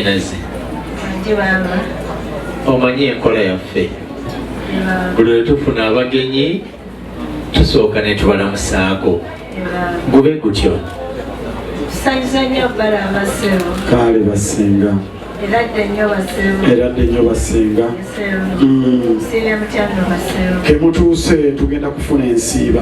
Nazi. Anje bamba. Omanyi enkola yaffe. Buli lwe tufuna abagenyi tusooka ne tubalamusaako. Gube gutyo. Tusanyuza nnyo bala amasebo. Kaale basinga. Era dde nnyo basinga. Era dde nnyo basinga. Nsiibye mutya nno basinga. Kemutuuse tugenda kufuna ensiiba.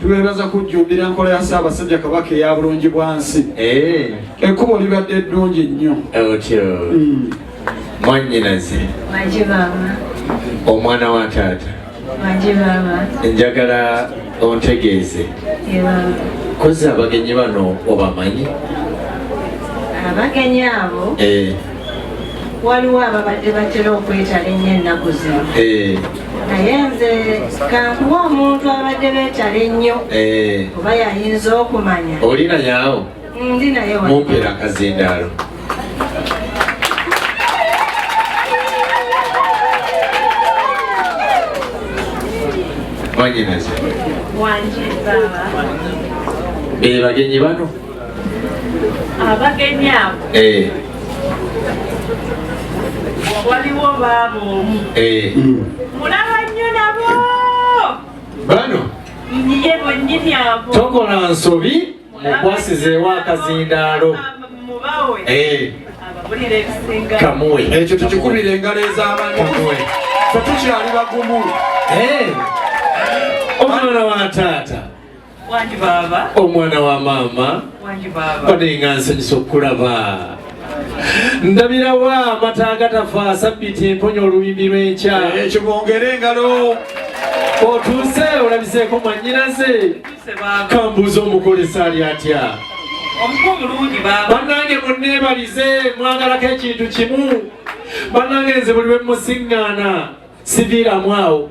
Tubeebaza kujjumbira nkola ya Ssaabasajja Kabaka eya bulungi bwansi. Eh. Ekkubo libadde ddungi nnyo. Otyo. Mm. Mwannyinaze. Manje maama. Omwana wa taata. Manje maama. Njagala ontegeeze. Kozzi abagenyi bano obamanyi? Abagenyi abo. Eh. waliwo ababadde batera okwetala ennyo ennaku zino eh. naye nze kankuwa omuntu abadde betala ennyo eh. oba yayinza okumanya oli nayawo ndi naye mumpera akazindaalo wanyinaze wanje baba bebagenyi bano abagenyi abo eh. waliwo baaba omu eh. mulaba nnyo nabo bano ye bonyini abo tokola nsobi mukwasizeewo akazindaalo mubawe eh. kamuwe ekyo tukikubira engalo ez'abantu fe tukyali bagumu omwana wa taata omwana wa maama banenga nsanyusa okukulaba ndabirawo amata agatafa sabbiti emponya olubimbi lw'enkya eh, ekyo bongere engalo otuuse olabiseeko mwanyinaze kambuuza omukolesa ali atya banange munneebalize mwagalako ekintu kimu banange nze buli lwe musiŋŋaana siviiramu awo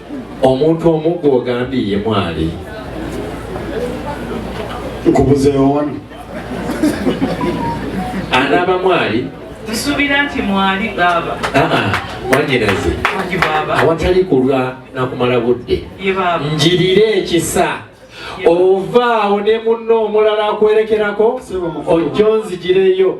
omuntu omu gwogambye ye mwali nkubuzeewo wano anaaba mwali nsuubira nti mwali baaba mwanyinaze awatali kulwa nakumala budde njirire ekisa ovaawo ne munno omulala akwerekerako ojjo nzigireyo